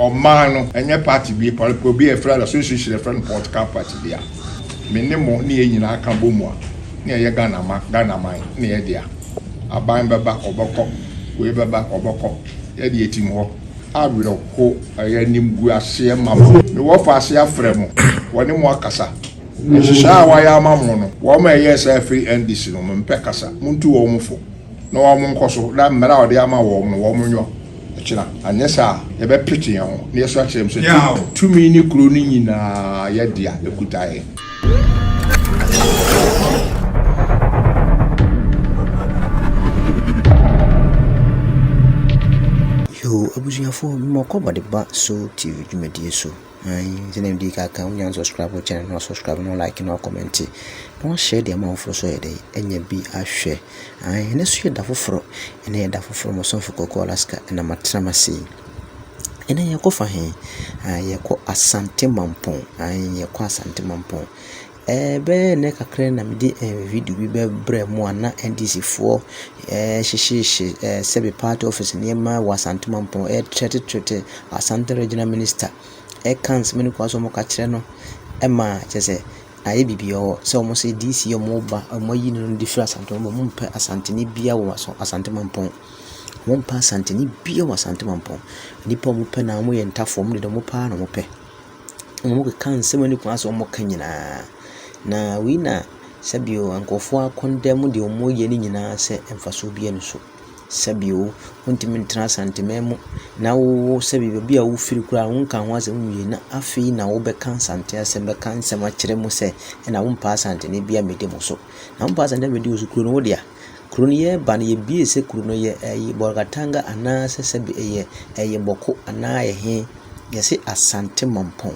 Ɔman no, ɛnyɛ party bi, pɔlpɔ bi a yɛfrɛ no association a yɛfrɛ no political party bi a me ne mo ne yɛn nyinaa ka bɔ mu a na yɛyɛ Ghana ma, Ghana man ne yɛn dea. Aban bɛba, ɔbɛkɔ, wei bɛba, ɔbɛkɔ, yɛn deɛ yɛtim hɔ. Awerɛhoɔ, ɛyɛ animguaseɛ ma mo. Me wɔ fa ase afrɛ mo, wɔ ne mo akasa. Nhyehyɛɛ a wɔayɛ ama mo no, wɔn a ɛyɛɛ saa firi NDC no, mempɛ kasa, montu wɔn fo. na wɔn nkɔ so na mmara a ɔde ama wɔn no wɔn nyɔ kyena, anyɛ saa a yɛbɛ pete yɛn ho na yɛsu akyerɛ mu sɛ tumi ne kuro no nyinaa yɛ dea, ɛkuta yɛn. Yoo abusuafoɔ, mmɔkɔ bɔde ba Soul TV dwumadie so. Aane, sɛdeɛ medii kan aka no, wo nua no subscribe wo channel no, wa subscribe na wa like na wa comment, na wa share de ama afoforɔ nso ayɛ dɛn, anya bi ahwɛ. Aane, ɛnnɛ nso yɛ da foforɔ, ɛnnɛ yɛ da foforɔ, mo somfo Kɔkɔɔ Alaska na matena m'ase yi. Ɛnnɛ yɛkɔ fa he? Aane, yɛkɔ Asante Mampong, aane, yɛkɔ Asante Mampong. Bɛyɛ nnɛ kakra yi na mede video bi bɛbrɛ mo a na NDC foɔ rehyehye sɛbe party office nneɛma wɔ Asante mampɔn, ɛretrɛte trɛte Asante regional minister, ɛreka nsɛm no kɔ so a wɔka kyerɛ no ma kyerɛ sɛ ayɛ biribi wɔ hɔ. Sɛ wɔn sɛ DC a wɔreba wɔayi no de firi Asante mampɔn mu, wɔmpɛ Asanteni biara wɔ Aso Asante mampɔn. Wɔmpɛ Asanteni biara wɔ Asante mampɔn. Nnipa a wɔpɛ no ara wɔyɛ ntafowa, wɔn deɛ wɔpɛ ara na wɔpɛ. Wɔkeka nsɛm a ɛnni kwan sɛ wɔka nyinaa, na wei na sɛbe o nkurɔfoɔ akɔndɛ mu deɛ wɔyɛ no nyinaa sɛ mfasoɔ biara nni so. Sɛbe o, wontumi ntena Asanteman mu na wo wo sɛbe baabi a wofiri koraa wonka ho asɛm nwie na afei na wobɛka Asante asɛm bɛka nsɛm akyerɛ mo sɛ ɛna wompɛ Asanteni biara mmɛdi mo so. Na wompɛ Asanteni biara mmɛdi wo so kuro no, wo dea? Kuro no yɛ ba no yɛbue sɛ kuro no yɛ ɛyi Bolgatanga anaa sɛ sɛbi ɛyɛ ɛyɛ Bɔko anaa ɛyɛ he. Yɛse Asante Mampong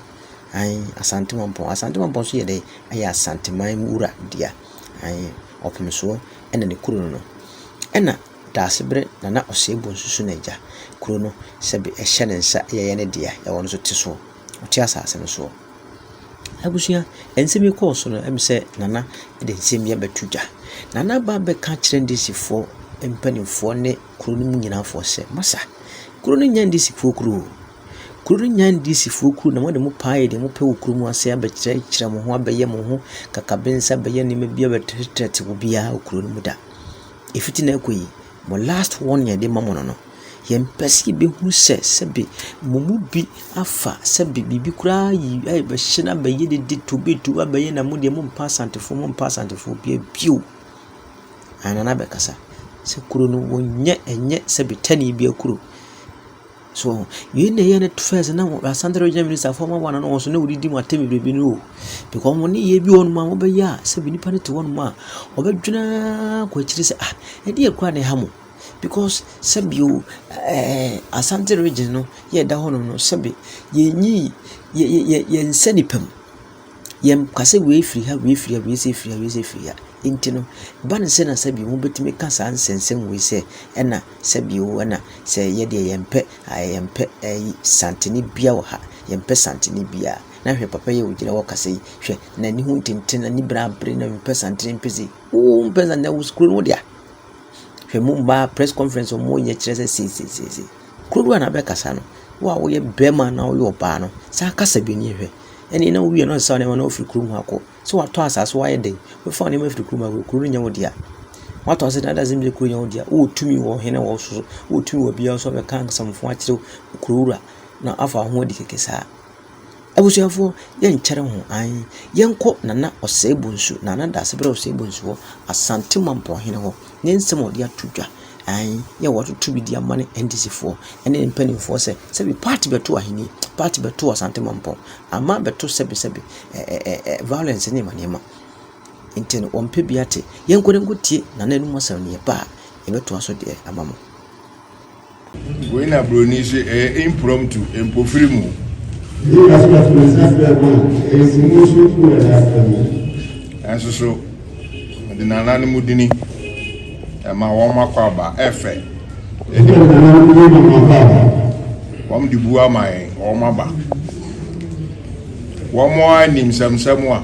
aane Asante Mampong. Asante Mampong nso yɛ dɛn ɛyɛ Asanteman mu wura dea aane Ɔpemsoɔ ɛna ne kuro no no. Ɛna Daasebrɛ Nana Osei Bonsu nso n'agya kuro no sɛbi ɛhyɛ ne nsa ɛyɛ ne dea ɛwɔ no so te soɔ. ɔte asase no soɔ. Abusua, nsɛm yi kɔɔ so no, ɛm sɛ Nana de nsɛm bi abɛto dwa. Nana aba abɛka akyerɛ Ndisifoɔ mpanimfoɔ ne kuro no mu nyinaafoɔ sɛ, Masa, kuro no nyɛ Ndisifoɔ kuro o. Kuro no nyɛ Ndisifoɔ kuro na mode mo paa yɛ deɛ mopɛ wɔ kuro mu ase abɛkyerɛkyerɛ mo ho, abɛyɛ mo ho kakabensa, abɛyɛ nneɛma bi abɛtrɛtrɛte obiara wɔ kuro no mu da. Ɛfiti nnɛ rekɔ yi, mo last warning a yɛde rema mo no no, Yɛmpɛ sɛ yebehu sɛ sɛbe mo mu bi afa sɛbe biribi koraa ayi ayɛ bɛhye no abɛyɛ dede tobe tobe abɛyɛ na mo deɛ mommpa Asantefo mommpa Asantefo bia bio. Anaa Nana bɛkasa sɛ kuro no wɔnyɛ ɛnyɛ sɛbe tɛnee bia kuro. So wɔn yei na ɛyɛ no first na wɔn Asante Regional Minister fo wɔn wɔn nso na wɔdidi mu atɛm bebrebe no o because wɔn ne yɛ bi wɔ hɔ nom a wɔbɛyɛ a sɛbe nipa no te hɔ nom a ɔbɛdwene ara kɔ akyiri sɛ ah ɛdeɛ kura na ɛha mo. because sɛbi o, ɛɛ Asante region no yɛ ɛda hɔnom no, sɛbi yɛnyii yɛ yɛn nsa nifa mu. Yɛnka sɛ wei firi ha, wei firi ha, wei sei firi ha, wei sei firi ha. Nti no, ɛba no sɛ na sɛbi wɔbɛtumi aka saa nsɛnsɛm wei sɛ, ɛna sɛbi o, ɛna sɛ yɛ deɛ yɛmpɛ ɛɛ yɛmpɛ ɛyi santene biara wɔ ha, yɛmpɛ santene biara. Na hwɛ papa yi a ɔgyina hɔ rekasa yi, hwɛ n'ani ho ntentene, n'ani bere abere, na ɔmpɛ santene mpɛ sei. Wo wompɛ santene, wo kuro no wo dea. Hwɛ mo mmaa press conference a wɔyɛ kyerɛ sɛ seiseisei. Kuro no ara na abɛkasa no. Wo a woyɛ barima na woyɛ ɔbaa no, san kasa bi nie hwɛ. Ɛnne na wowie no na wosaw nneɛma na wofiri kurom ha kɔ. So watɔ asaase so wayɛ dɛn? Wobɛfa wo nneɛma afiri kurom ha kuro no nyɛ wo dea. Watɔ asaase na adasɛ bi sɛ kuro nyɛ wo dea. Wowɔ tumi wɔ ɔhene wɔ so so. Wowɔ tumi wɔ biara so abɛka asɛmfo akyerɛ kurowura na afa wo ho adi kɛkɛ saa. Abusuafoɔ yɛnkyɛre ho ae, yɛnkɔ Nana Osei-Bonsu, Nana Dasebrɛ Osei-Bonsu hɔ, Asante Mampɔnhene hɔ, ne nsɛm a ɔde ato dwa, ae, yɛ a wɔatoto bi de ama ne NDCfoɔ ne ne mpanimfoɔ sɛ sɛbi party bɛto ahenni, party bɛto Asante Mampɔn, ama abɛto sɛbi sɛbi ɛ ɛ ɛ ɛ violence ne nneɛma nneɛma. Nti no, wɔmpɛ bi ate. Yɛnkɔ na yɛnkɔtie Nana anom asɛm no, yɛba a, yɛbɛtoa so deɛ ama mo. Wei na broni se ɛyɛ impromptu, mpofiri mu. Yei na so bɛtena ase afrɛ ma ɛsi mu so gu ɛda afrɛ mu. Nanso so mede nananom dini ɛma wɔn makɔ aba ɛfɛ. Ɛdeɛ mede nananom dini ma wɔn akɔ aba. Wɔn de bu ama yɛn wɔn aba. Wɔn a nim sɛmsɛm a.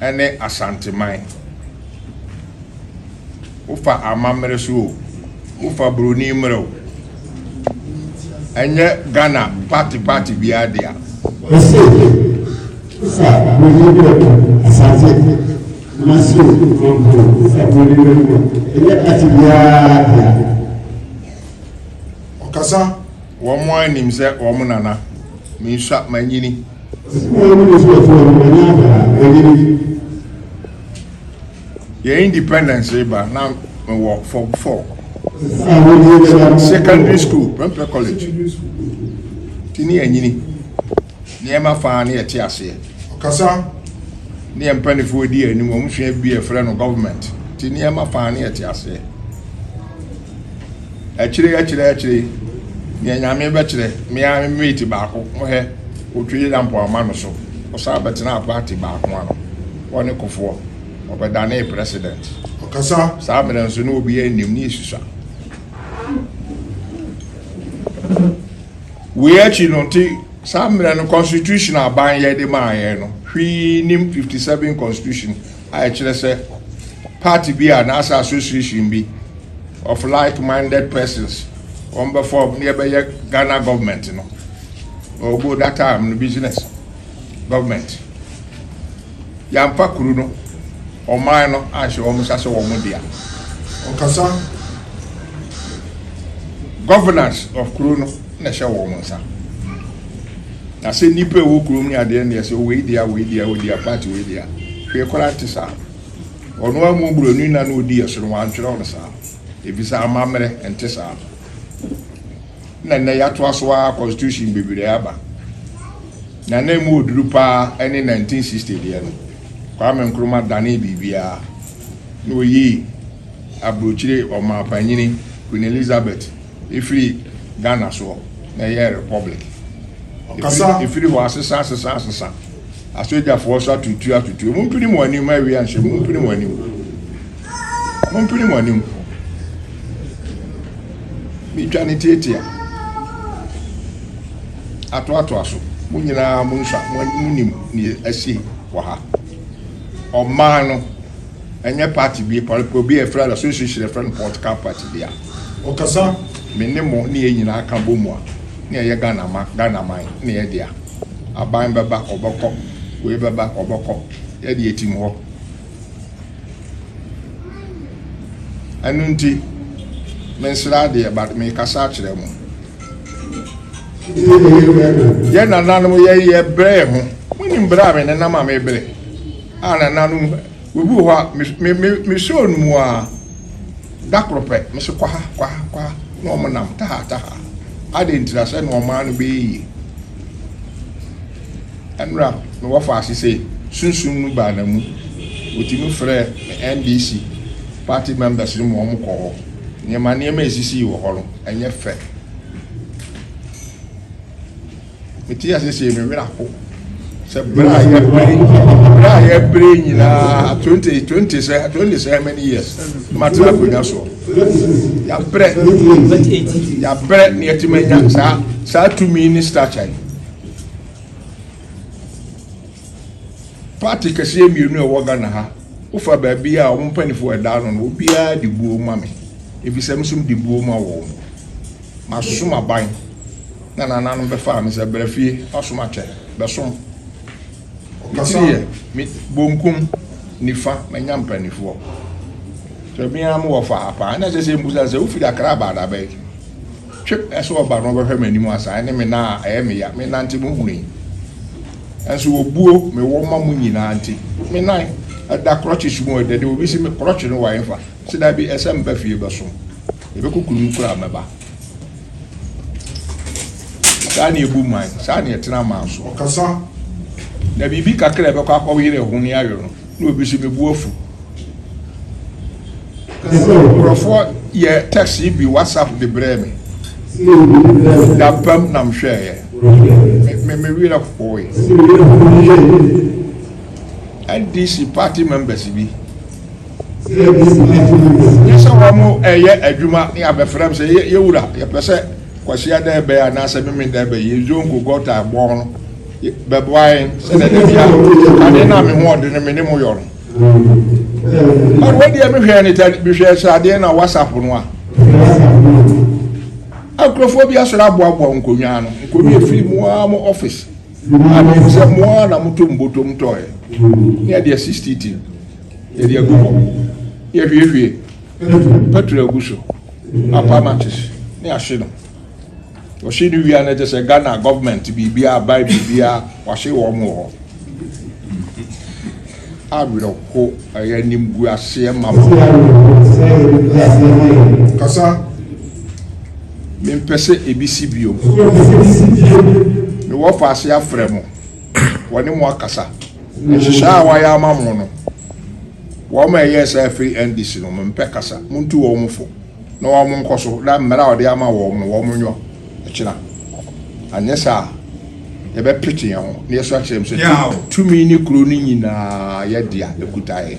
ne Asanteman. Wofa amammere so o, wofa buroni mmerɛ o, ɛnyɛ Ghana party party biara dea. Ese wofa buroni mmerɛ kɔ Asante ma so o, Mampo wofa buroni mmerɛ kɔ, ɛnyɛ party biara dea. Ɔkasa Wɔn ara nim sɛ wɔn nana. Mensua, manyini. Sɛdeɛ wɔn ani so ɔteɛ no, manya ada, manyini. Yɛn independence reba na mewɔ form four. Sɛ ahodie bɛba. Secondary school, mempɛ college. Nti ne yɛanyini. nneɛma fã ne ɛte aseɛ. Ɔkasa neɛ mpanifoɔ di anim wɔn sua bi ɛfrɛ no government te nneɛma fã ne ɛte aseɛ. Akyire akyire akyire neɛ nyame bɛkyerɛ me ara me mate baako ho hɛ ɔtwe da mpo ama no so ɔsan bɛtenaa party baako ano hɔ ne kofoɔ ɔbɛdanee president. Ɔkasa saa mmerɛ nso na obiara nnim ne ɛsusua. Wei akyi no nti, saa mmerɛ no constitution a aban yɛ de maa yɛn no, hwee nnim, fifty seven constitution a ɛkyerɛ sɛ party bi a anaasɛ association bi of like minded persons wɔn bɛ form na yɛbɛyɛ Ghana government no, ɔwɔ that time no business government. Yɛamfa kuru no, ɔman no, anhyɛ wɔn nsa sɛ wɔn dea. Ɔkasa, Governance of kuro no na ɛhyɛ wɔn nsa. Na sɛ nnipa ɛwɔ kurom ne adeɛ ne ɛsɛ wei dea wei dea wei dea party wei dea hwee koraa nte saa. Ɔno ara mu buroni na na ɔdi yɛ so no wantwerɛ no saa. Efisɛ amammerɛ nte saa. na nnɛ yɛatoa so ara constitution bebree aba. Na na emu oduru paa ne 1960 deɛ no. Kwame Nkrumah danee biribiara na oyii aburokyire ɔmaapanyini Queen Elizabeth efiri Ghana soɔ na ɛyɛɛ republic. Efiri hɔ asesa asesa asesa. Asogyafoɔ nso atutu atutu. Mompini mo anim ma awia nhyɛ mu. Mompini mo anim. Mompini mo anim. Metwa ne tiatia. Atoatoa so. Mo nyinaa mo nsa mo nim ne asi wɔ ha. Ɔman no ɛnyɛ party bi pɔlpɔ bi a ɛfrɛ no association ɛfrɛ no political party bi a. Ɔkasa. Me ne mo ne yɛn nyinaa ka bɔ mu a ne ɛyɛ Ghana ma Ghana man ne yɛ dea. aban bɛba ɔbɛkɔ wei bɛba ɔbɛkɔ yɛde atim hɔ ɛno nti mensra adeɛ but mekasa akyerɛ mu yɛ nananom yɛyɛ brɛ ho monim berɛ a me nenam a mebrɛ a nananom obi wɔ hɔ a mesɔɔ no mu a Da koro pɛ, me se kwaha, kwaha, kwaha, na wɔn nam taha, taha. Adɛn ntira sɛ na ɔman no bɛyɛ yie? Ɛnora na wɔfa ase sɛ sunsum no baa na mu. Wɔtumi frɛ me NDC party members no ma wɔn kɔ hɔ. Nneɛma nneɛma ɛsisii wɔ hɔ no, ɛnyɛ fɛ. Metee ase sɛ me werɛ aho sɛ berɛ a yɛbere berɛ a yɛbere nyinaa twenty twenty sɛ twenty sɛ many years matena akonnwa soɔ yɛabrɛ yɛabrɛ ne yɛtumi anya saa saa tumi ne stature yi party kɛseɛ mmienu a ɛwɔ ghana ha wofa baabi a wɔn mpanimfoɔ ɛda ano no obiara de buo ma me ebi sɛ mesom de buo ma wɔn. Masom aban na nananom bɛfaa me sɛ, Bra fie, fasom akyɛ, bɛsom. Me tiri yɛ me bonkum, nifa, manya mpanimfoɔ. Sɛ me ara mewɔ fa ha paa, na ɛsɛ sɛ yɛmmisa no sɛ, Wofiri Akra aba da bɛn? Twe sɛ ɔba no ɔbɛhwɛ m'anim asa, ɛne me nan a ɛyɛ me ya, menante no hunu yi. Nanso obuo mewɔ ma mo nyinaa nti, me nan da krɔkyes mu a, ɛdɛ de obi se me krɔkye no wɔ ɛmfa. Se da bi ɛsɛ mba fie bɛsom. Yɛbɛkɔ kunum koro a mɛba. Saa ne ɛbu man, saa ne ɛtena man so. Ɔkasa. Na biribi kakra a ɛbɛkɔ akɔyere ɛho ne ayo no, na obi se mebu afu. Nkurɔfoɔ yɛ text yi bi WhatsApp de brɛɛ me. Dampam na mehwɛɛyɛ. Me, me, me werɛ hoe. NDC party members bi. Yɛhyɛ wɔn yɛ adwuma na yɛabɛfrɛ m sɛ, Yɛ wura, yɛpɛ sɛ Kwasia dɛ bɛyɛ anaasɛ Memen dɛ bɛyɛ. Yɛn zongo, gɔta, ɛbɔn no bɛboa yɛn sɛnea da biara ade no a me ho ɔden no me ne mo yɔ no. But wei deɛ mehwɛɛ ne tɛ mehwɛɛ sradeɛ na WhatsApp no a. Akurofoɔ bi asɔre aboaboa nkonnwa ano. Nkonnwa efiri mu ara mo office. Ade sɛ mo ara na moto mbotom tɔɔɛ. Ne ɛdeɛ 60 tin. Yɛde agu hɔ. Yɛhwiehwie pɛtro agu so, apa matches ne ahye no. Wɔhye no wia no kyɛ sɛ Ghana gɔvmɛnt biribiara aban biribiara wɔahye wɔn wɔ hɔ. Awerɛho ɛyɛ animguaseɛ ma mo. Kasa mempɛ sɛ ebi si bio. Mewɔ faase afrɛ mo. wɔne mo akasa. Nhyehyɛe a wɔayɛ ama mo no, wɔn a ɛyɛɛ saa firi NDC no, mempɛ kasa. Montu wɔn fo na wɔn nkɔ so na mmara a wɔde ama wɔn no, wɔn nyɔ kyena. Anyɛ saa a, yɛbɛpete yɛn ho na yɛasu akyerɛ mo sɛ tumi ne kuro no nyinaa yɛ dea, ɛkuta yɛn.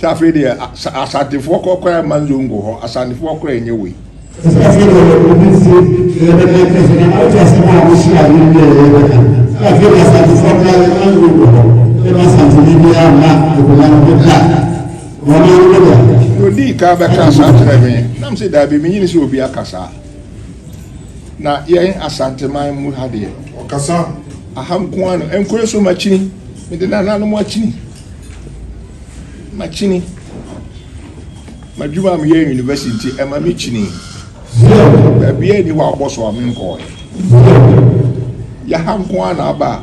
sɛ afei deɛ asantefoɔ kɔ kora ma nzongo hɔ asantefoɔ kora ɛnyɛ wei na ɔdii kan bɛka saa kyerɛ me nam sɛ daabi menyini sɛ obi aka saa Na yɛn Asanteman mu ha deɛ. Ɔkasa. Aha nko ara no. Nkure so makyini. Mede nananom akyini. Makyini. M'adwuma a meyɛ university nti ɛma me kyini. Baabi a ɛni hɔ abɔ so a menkɔɔɛ. Yɛha nko ara na aba a.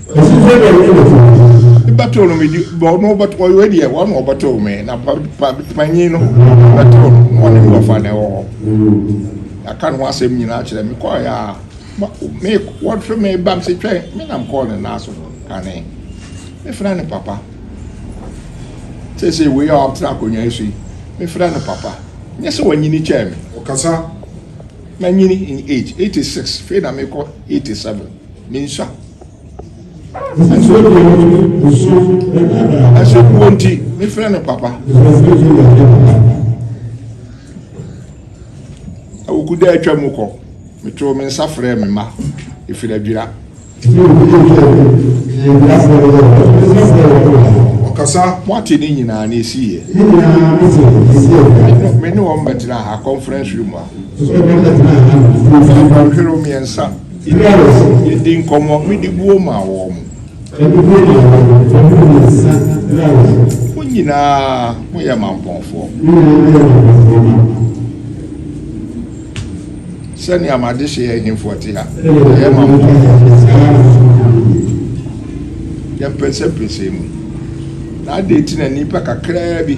Ɛfiri sɛ deɛ ɔyɛ nokorɛ biara. Bɛtoo no me di bɔ no bɛto ɔyɛ wei deɛ wɔn na ɔbɛtoo me na pa pa panyin no bɛtoo no na ɔne me wɔfa na ɛwɔ hɔ yɛaka ne ho asɛm nyinaa kyerɛ me kɔɔ yɛ a ma me wɔtwe me ba me se twɛn me nam kɔɔ ne nan so kane me frɛ ne papa sese wei a ɔtena akonnwa yi so yi me frɛ ne papa nyɛ sɛ wɔnyini kyɛɛ me ɔkasa manyini in age 86 fei na mekɔ 87 Me nsa. Ɛsɛ deɛ wɔde osuo ɛna na. Ɛsɛ kuo nti ne fɛn no papa. Ɛsɛ deɛ wɔde papa. Awoku dɛ atwa mu kɔ. Metoo me nsa frɛɛ me mma ɛfiri adwira. Ɔkasa moate ne nyinaa ne ɛsiiɛ. Me ne wɔn bɛtena ha conference room a. Hwere wo mmiɛnsa. Yɛdii nkɔmmɔ, mede buo maa wɔn. Mo nyinaa moyɛ mampɔnfoɔ. Sɛnea m'adehyeɛ ahemfoɔ te ha, wɔyɛ mampɔnfoɔ te sɛ yɛn. Yɛmpɛnsɛmpɛnsɛɛ mu. Na adɛn nti na nnipa kakraa bi.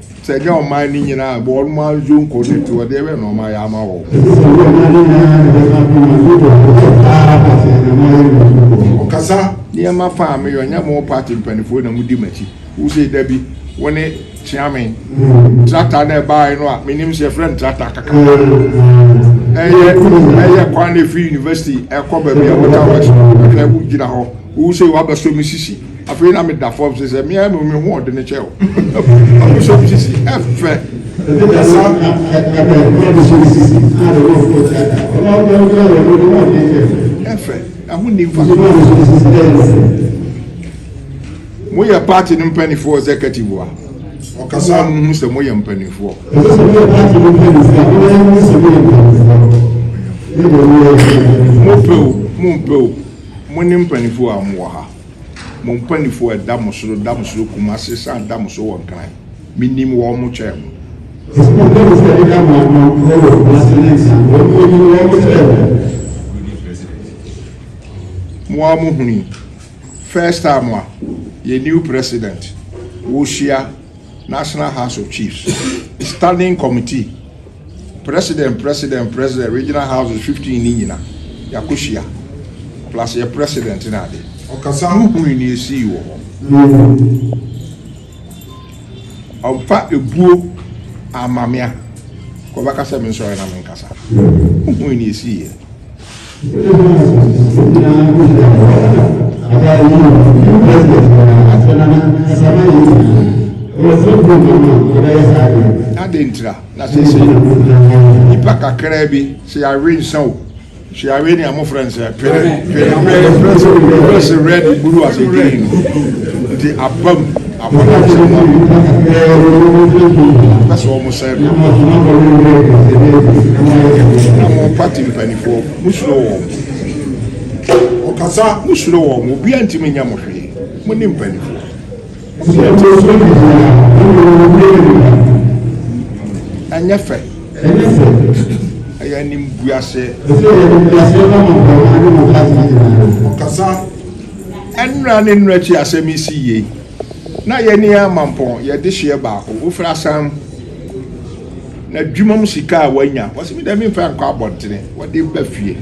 Sɛ ɛnyɛ ɔman no nyinaa a, wɔn ara nso nkɔ n'akyi hɔ, deɛ ɛbɛyɛ na wɔayɛ ama wɔn. Ɔkasa. Nneɛma fa a meyɛ, ɔnyɛ mo party mpanimfoɔ na modi m'akyi. Wose da bi wo ne Kyeame. Tractor no a ɛbaeɛ no a, menim sɛ yɛfrɛ no tractor kaka. Ɛyɛ ɛyɛ kwan na ɛfiri university ɛkɔ baabi a water works no, ɛhwɛ wogyina hɔ. Wo sei w'abɛsɔ me sisi afei na me da fam se sɛ me ara me ho ɔde ne kyɛ o w'abɛsɔ me sisi ɛfɛ. Ebi na sa ɛbɛ w'abɛsɔ me sisi na de w'afɔ kyɛ ɛbɛ w'abɛsɔ me sisi na de w'afɔ kyɛ ɛbɛ ɛfɛ ɛho ni nfa mo yɛ party no mpanimfoɔ executive wa ɔkasa mo ho sɛ mo yɛ mpanimfoɔ mo pɛ o mo mpɛ o Mo ne mpaninfoɔ a mo wɔ ha, mo mpaninfoɔ a ɛda mo so no da mo so kumase san da mo so wɔ Nkran. Me nim wɔn mo kyɛn mo. Enti mo mpɛ mo sɛ ɛda mo ano wɔ wɔ kumase ne Nsan, wɔn mo nim wɔn mo kyɛn mo. Mo ara mo hunu yi, first time a yɛn new president, wo hyia National House of Chiefs, standing committee. President president president regional houses fifteen ne nyina yɛakɔ hyia plus yɛ president ne ade ɔkasa ho hui ne ɛsii wɔ hɔ ɔmfa ɛbuo ammame a kɔbɛka sɛ mensɔre na menkasa ho hui ne ɛsiiɛ. Adɛn ntira na seesei nnipa kakraa bi sɛ yɛawe nsa o sɛ yɛawe nea mofrɛ no sɛ pere pere pere sɛ red buru ase green nti abam Afɔre a wɔhyew ma nnipa pɛ sɛ wɔsɛe no. Na mo nkwati mpanimfoɔ, mosuro wɔn. Wɔkasa, mosuro wɔn. Obiara ntumi nyɛ mo hwee. Mo ne mpanimfoɔ. Ɛnyɛ fɛ. Ɛyɛ animguaseɛ. Wɔkasa. Nnora ne nnora akyi asɛm yi si yie. Na yɛn ani ara ma mpɔn, yɛn dehyeɛ baako, wofiri asan n'adwuma mu sika a wanya. Wɔsi me deɛ me nfa nkɔ abɔntene, wɔde ba fie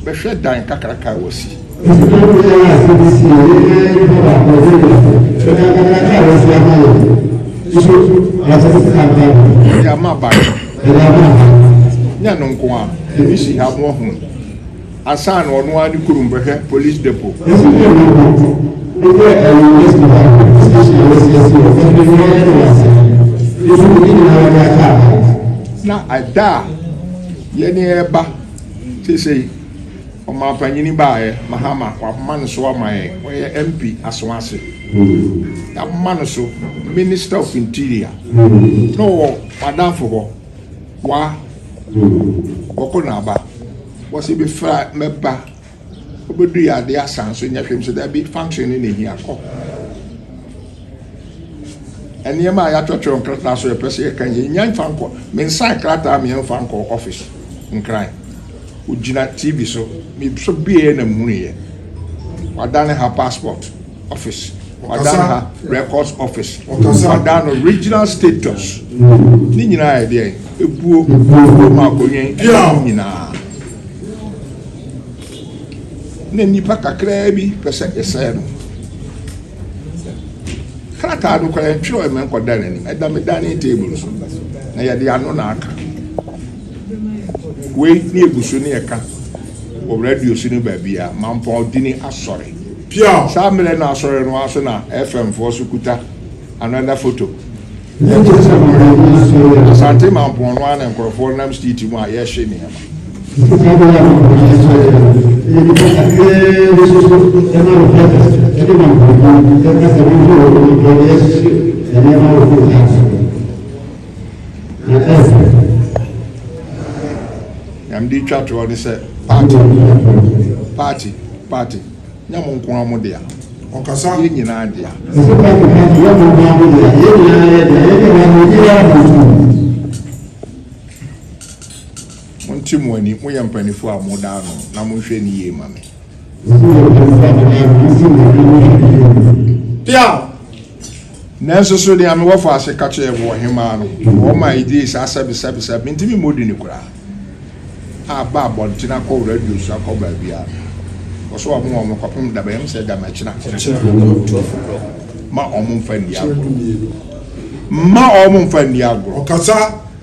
bɛhwɛ dan kakraka a wɔsi. Wɔsi na me ara asɛm yi si yie, yɛn ara yɛn nipa baako, wɔde ba fie bɛhwɛ dan kakraka a wɔsi ama yɛn no. Nso wɔakyɛ sika a mfa nkɔ. Yɛde ama aban no. Yɛde ama aban no. Nyɛ ɛno nko ara, ebi si ha a mo ahunu. Ansa na ɔno ara ne kurom bɛhwɛ Police Depot. Ɛso deɛ na wɔto no yɛ ɛyɛ West Dubai Police Station a wɔasiesie wɔ Sunday no ara ne Wasaa no nso mu ne nyinaa de aka aban. Na ɛda a yɛne reba seesei, ɔmanpanyini baeɛ, Mahama, wɔama no so ama yɛn, ɔyɛ MP Asawase, yɛama no so Minister of Interior, na ɔwɔ m'adamfo hɔ. Wa bɔkɔ na aba. Wɔ se me fra mɛ ba. Wo bɛ du ya de asan so nyɛ hwem so da bi function ne na hia kɔ. Nneɛma a yɛatwerɛtwerɛ nkrataa so yɛpɛ sɛ yɛka yɛ nya mfa nkɔ me nsa nkrataa me mfa nkɔ office nkran ogyina tv so me so bieɛ na muhunu yɛ wadane ha passport Office, wɔadan ha Records Office, wɔadan no Regional Status, ne nyinaa yɛ deɛ ebuo kurom akonnwen ɛna nyinaa. Na nnipa kakraa bi pɛ sɛ yɛsɛe no. Krataa no kora yɛntwerɛ ɛmɛ nkɔda n'anim, ɛda me dining table so, na yɛde ano na aka. Wei ne ebu so ne yɛka Wɔ radio so ne baabiara, Mampɔn di ne asɔre. Saa mmerɛ no asɔre no ara so na FM foɔ so kuta another photo. Yɛte sɛ Mampɔn. Asante Mampɔn no ara na nkorɔfoɔ nam street mu a yɛhye nneɛma. Nyamede twa toɔ ne sɛ party party party nyɛ mo nko ara mo dea ɔkasa yɛ nyinaa dea. Ɛsɛ party party yɛ mo nko ara mo dea yɛ nyinaa yɛ dea yɛ dea mo yɛ yɛ mo nko. Mo nti mo ani mo yɛ mpanifoɔ a mo da ano na mo nhwɛ ni yie ma me. Ɛsɛ mo yɛ mpanifoɔ a mo da ano mo nti mo ani mo hwɛ ni yie ma me. Pia. Nanso so nea mewɔ faa ase ka kyerɛɛ mo wɔ Ɔhemmaa no hɔ maa egyee saa sɛbesɛbesɛ a mintumi mmɔ din koraa a ba abɔnten akɔ radio so akɔ baabiara no? Kɔ so wɔamoa wɔn kɔpem da bɛn? Ɛmfa sɛ ɛda makyina Ɔtumfo no mma wɔn mfa nni agorɔ. Mma wɔn mfa nni agorɔ.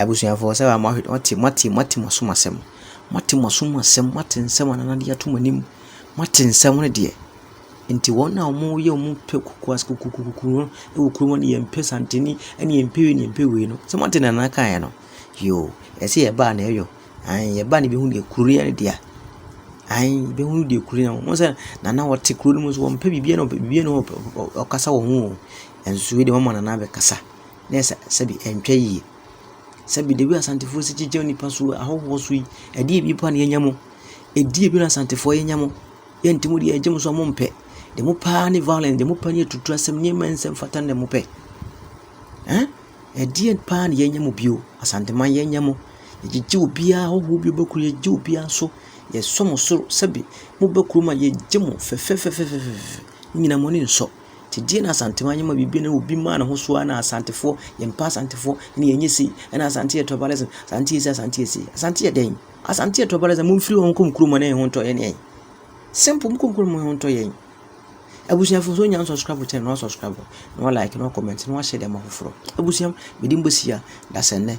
Abusuafoɔ sɛ a moahwɛ moate moate moate mo asom asɛm moate mo asom asɛm moate nsɛm a Nana de ato mo anim moate nsɛm no deɛ nti wɔn a wɔyɛ wɔn pɛ kokoas kokokokoku no wɔ kurom hɔ no yɛmpɛ santene ne yɛmpɛ wei ne yɛmpɛ wei no sɛ moate deɛ Nana kaeɛ no yoo ɛsɛ sɛ yɛba a na ɛyɔ ae yɛba a na yɛbɛhu deɛ kuro yɛ no dea ae yɛbɛhu deɛ kuro yɛ wohu sɛ Nana ɔte kuro no mu nso ɔmpɛ biribiara ɔmpɛ biribiara nni hɔ ɔkasa wɔ ho o nanso wei deɛ wɔama Nana abɛkasa na ɛsɛ sɛbi ɛntwa yie. Sɛbi the way Asantefoɔ si gyigya nnipa so ahɔhoɔ so yi, ɛdeɛ bi mpo na yɛnya mu. Ɛdeɛ bi na Asantefoɔ yɛnya mu. Yɛ nti mo deɛ ɛgye mo so a mo mpɛ. Deɛ mo pɛ ara ne violence, deɛ mo pɛ ne atutuo asɛm, nneɛma a ɛnsɛ mfata na mo pɛ. Ɛn? Ɛdeɛ paa na yɛnya mu bio. Asanteman yɛnya mu. Yɛgyigya obiara, ahɔhoɔ bi bɛkuru yɛgye obiara so. Yɛsɔ mo soro sɛbi mobɛ kurom a yɛgye mo fɛfɛfɛfɛfɛfɛ. Ne nyinaa mo ani nsɔ. Gyedie na Asante man yɛ ma biribi na obi maa ne ho so ara na Asantefoɔ, yɛmpɛ Asantefoɔ, ɛna yɛnyɛ sei, ɛna Asante yɛ tribalism, Asante yɛ sei, Asante yɛ sei. Asante yɛ dɛn? Asante yɛ tribalism, momfiri hɔ nkɔ mo kurom hɔ na yɛn ho ntɔ yɛn ne yɛn. Simple, mokɔ mo kurom mo ho ntɔ yɛn. Abusuafo so nya nsubscribe channel, na wasubscribe, na wa like, na wa comment, na wahyɛ dɛm afoforɔ. Abusua, mede mbɔ si a, dasɛnnɛ,